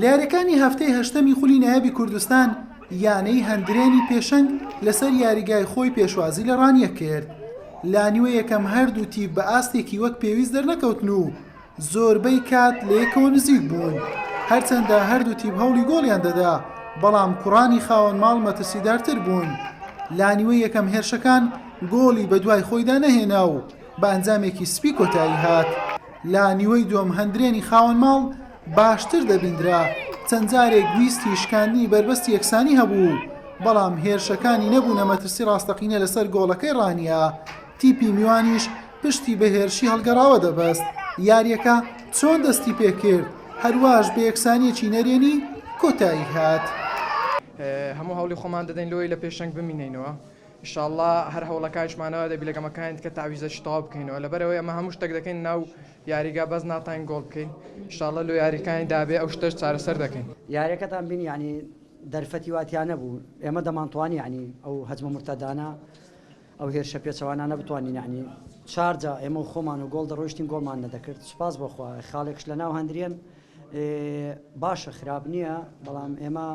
لێرەکانی هەفتەی هەشتەمی خولی نایابی کوردستان یانەی هەندرێنی پێشەنگ لەسەر یاریگای خۆی پێشوازی لە ڕانیە کرد لانیوە یەکەم هەردوو تیپ بە ئاستێکی وەک پێویست دەرنەکەوتن و زۆربەی کات لە یەکەوە نزیک بوون هەرچەندە هەردوو تیپ هەوڵی گۆڵیان دەدا بەڵام کوڕانی خاوەن ماڵ مەترسیدارتر بوون لانیوە یەکەم هێرشەکان گۆڵی بە دوای خۆیدا نەهێنا و بە ئەنجامێکی سپی کۆتایی هات. لە نیوەی دووەم هەندرێنی خاوەن ماڵ باشتر دەبیندرا، چەند جارێک ویستی شکاندنی بەربەستی یەکسانی هەبوو، بەڵام هێرشەکانی نەبوونە مەترسی ڕاستەقینە لەسەر گۆڵەکەی ڕانیە، تیپی میوانیش پشتی بە هێرشی هەڵگەڕاوە دەبەست. یارییەکە چۆن دەستی پێکرد، هەرواش بە یەکسانییەکی نەرێنی کۆتایی هات. هەموو هەوڵی خۆمان دەدەین لەوەی لە پێشەنگ بمینێینەوە. ان شاء اللە هەر هەوڵەکانشمانە وای دەبی لە گەمەکانی دیکە تەعویزەکی تەواو بکەینەوە لەبەرئەوەی ئەمە هەموو شتەک دەکەین ناو یاریگا بەس ناتوانین گۆڵ بکەین ان شاء اللە لۆ یاریەکانی دابێ ئەو شتەش چارەسەر دەکەین. یاریەکەتان بینی یەعنی دەرفەتی وا تیا نەبوو ئێمە دەمانتوانی یەعنی ئەو هەجمە مرتەدانە ئەو هێرشە پێچەوانانە بتوانین یەعنی چار جا ئێمە و خۆمان و گۆڵ دەڕۆیشتین گۆڵمان نەدەکرد سوپاس بۆ خوا خاڵێکش لەناو هەندرێن باشە خراپ نییە بەڵام ئێمە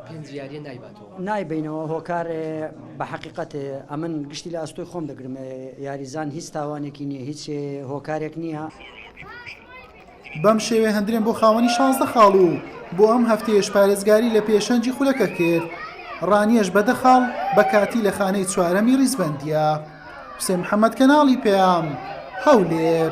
پێنج یاریە نایباتەوە. نایبینەوە هۆکار بە حەقیقەت ئەمن گشتی لە ئەستۆی خۆم دەگرم یاریزان هیچ تاوانێکی نییە هیچ هۆکارێک نییە. بەم شێوەیە هەندرێن بۆ خاوەنی شانزدە خاڵ و بۆ ئەم هەفتەیەش پارێزگاری لە پێشەنگی خولەکە کرد ڕانیەش بە دە خاڵ بە کاتی لە خانەی چوارەمی ڕیزبەندییە حوسێن محەممەد کەناڵی پەیام هەولێر.